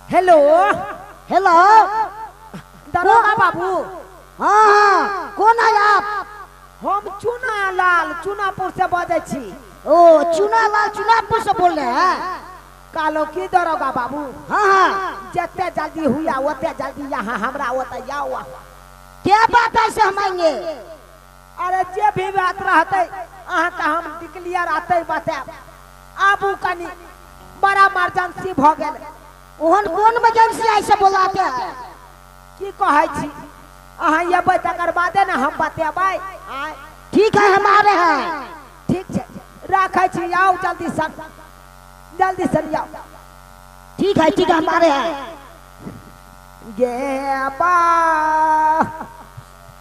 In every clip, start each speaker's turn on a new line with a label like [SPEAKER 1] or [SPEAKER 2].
[SPEAKER 1] Hello hello दरोगा बाबू हाँ हाँ कौन है आप हम चुना लाल चुनापुर से बजे छी ओ चुना लाल चुनापुर से बोल रहे हैं कालो की दरोगा बाबू हाँ हाँ जते जल्दी हुआ ओते जल्दी यहाँ हमरा ओते आओ क्या बात है से हम आएंगे अरे जे भी बात रहते अहा के हम डिक्लियर आते बताब आबू कनी बड़ा इमरजेंसी भ गेल ओहन कोन इमरजेंसी आइ से बोलाते है की कहै छी अहा एबै तकर बादे ने हम बतेबै आय ठीक है हम आ रहे हैं ठीक छै राखै छी आउ जल्दी से जल्दी से आउ ठीक है ठीक है हम आ रहे हैं गे बा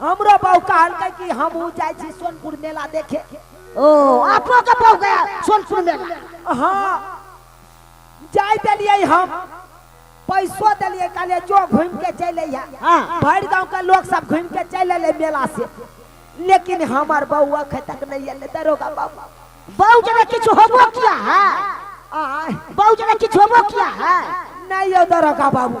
[SPEAKER 1] हमरो बहू कहलकै कि हमहूँ जाइ छी सोनपुर मेला देखे ओ आपो के बहु गया सोनपुर मेला हाँ जाय देलियै हम पैसो देलियै कहलियै जो घूमि के चलि अइहा हाँ भरि गांव के लोग सब घूमि के चलि अयलै मेला से लेकिन हमर बहू अखन तक नहि अयलै दरोगा बाबू बहु जना किछु होबो किया है आय बहु जना किछु होबो किया है नहि यौ दरोगा बाबू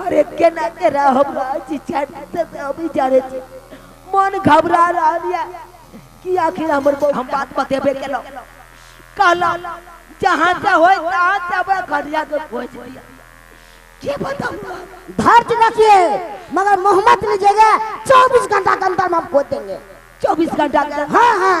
[SPEAKER 1] अरे केना केना हमरा अछि छाती से से अभी जाने छी मन घबरा रहल या कि आखिर हमर बहू- हम बात बतेबे केलौ कहला जहाँ से होय तहाँ से हमरा घरिया के खोज दिया के बताऊ धर चुका किए मगर मोहम्मद ने जगह चौबीस घंटा के अंदर में हम खोद देंगे चौबीस घंटा के हाँ हाँ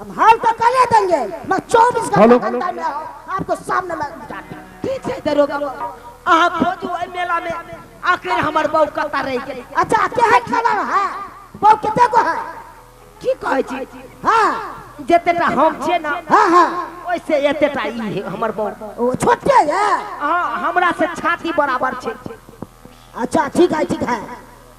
[SPEAKER 1] हम हाल तो कर ले देंगे मैं चौबीस घंटा घंटा में आपको सामने में ठीक है दरोगा अहा खोजू ए मेला में आखिर हमर बहू कता रह गेल अच्छा के है खाना है बहू कते को है की कहै छी हां जतेटा हम छे ना हां हां ओइसे एतेटा ई है हमर बहू ओ छोटे है हां हमरा से छाती बराबर छे अच्छा ठीक है ठीक है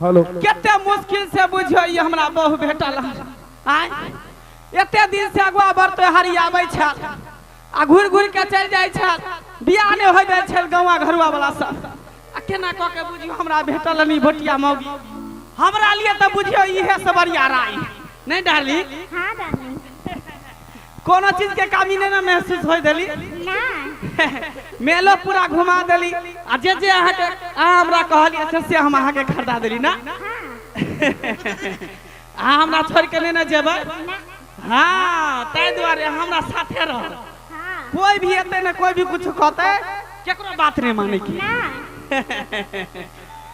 [SPEAKER 1] हेलो कते मुश्किल से बुझियो ई हमरा बहु भेटल हन। आय एते दिन से अगुआ बर त्योहारी आबै छल आ घुरि घुरि के चलि जाइ छल बियाह नहि होइ जाइ छल गौवा घरुआ वाला सब आ केना कऽ के बुझियो हमरा भेटल हन ई भोटिया मौगी हमरा लिए तऽ बुझियो इहे सबरिया राय नहि डाली हाँ डार्लिंग कोनो चीज के कमी नहीं ना महसूस होय देली नहीं मेलो पूरा घुमा देली आ जे जे अहाँ के अहाँ हमरा कहलिए से से हम अहाँ के खरीदा देली ना अहाँ हमरा छोड़ के नहीं ना जेबै हाँ ताहि दुआरे अहाँ हमरा साथे रह हाँ कोई भी एते ना कोई भी कुछ कहते केकरो बात नहीं माने की नहीं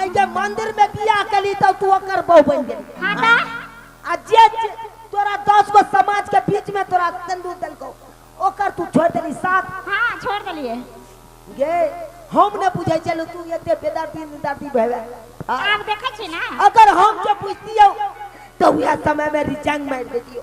[SPEAKER 1] आइ जे मंदिर में बियाह केली तब तू ओकर बहू बन गेली हाँ ता आ जे जे तोरा दस गो समाज के बीच में तोरा सिंदूर देलको ओकर तू छोड़ देली साथ हाँ छोड़ दिलिए गे हम ने बुझै चलू तू एते बेदर्दी निदर्दी भेवे आ, आप देखे छी ना अगर हम के बुझतियो तो वह समय में रिजाइन मार देतियो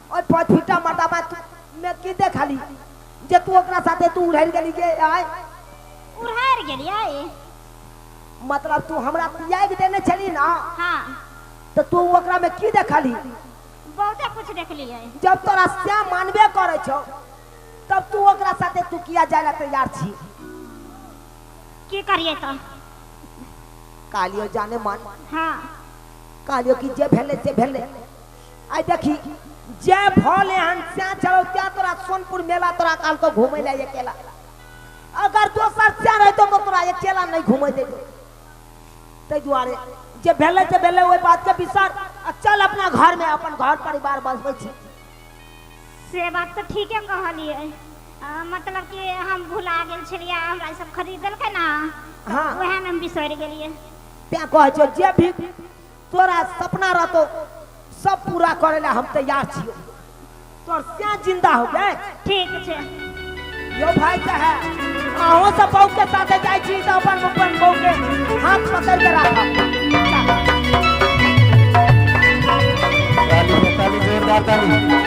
[SPEAKER 1] ओइ पॉचुटा मटाबा तू में की देखली जे तू ओकरा साथे तू उड़हर गेली गे आय उड़हर गेलियै मतलब तू हमरा पियाग देने छली ना हाँ तो तू ओकरा में की देखली बहुते कुछ देखलियै जब तोरा श्याम मानबे करे छो तब तू ओकरा साथे तू किया जाय ला तैयार छी की करियै तो कालियो जाने मन हाँ कालियो की जे भेले जे भेले आई देखी जे भले हन स्या चलो त्या तोरा सोनपुर मेला तोरा काल को घूमे ले अकेला अगर दोसर स्या रहतो तो तोरा अकेला नहीं घूमे दे ताहि दुआरे जे भेले से भेले ओहि बात के विसर आ चल अपना घर में अपन घर परिवार बसबै छी से बात तो ठीके कहलिए अ, मतलब कि हम भुला गेल छलिए हमरा ई सब खरीदलकै ना हाँ। वएह में हम बिसरि गेलिए त्या कहै छौ जे भी तोरा सपना रहतो सब पूरा करे ला हम तैयार छियो तोर सिया जिंदा हो गए ठीक छै यो भाई चाहे अहो सब बहू के साथे जाय छी तो अपन अपन बहू के हाथ पकड़ के राखब ताली ताली जोरदार ताली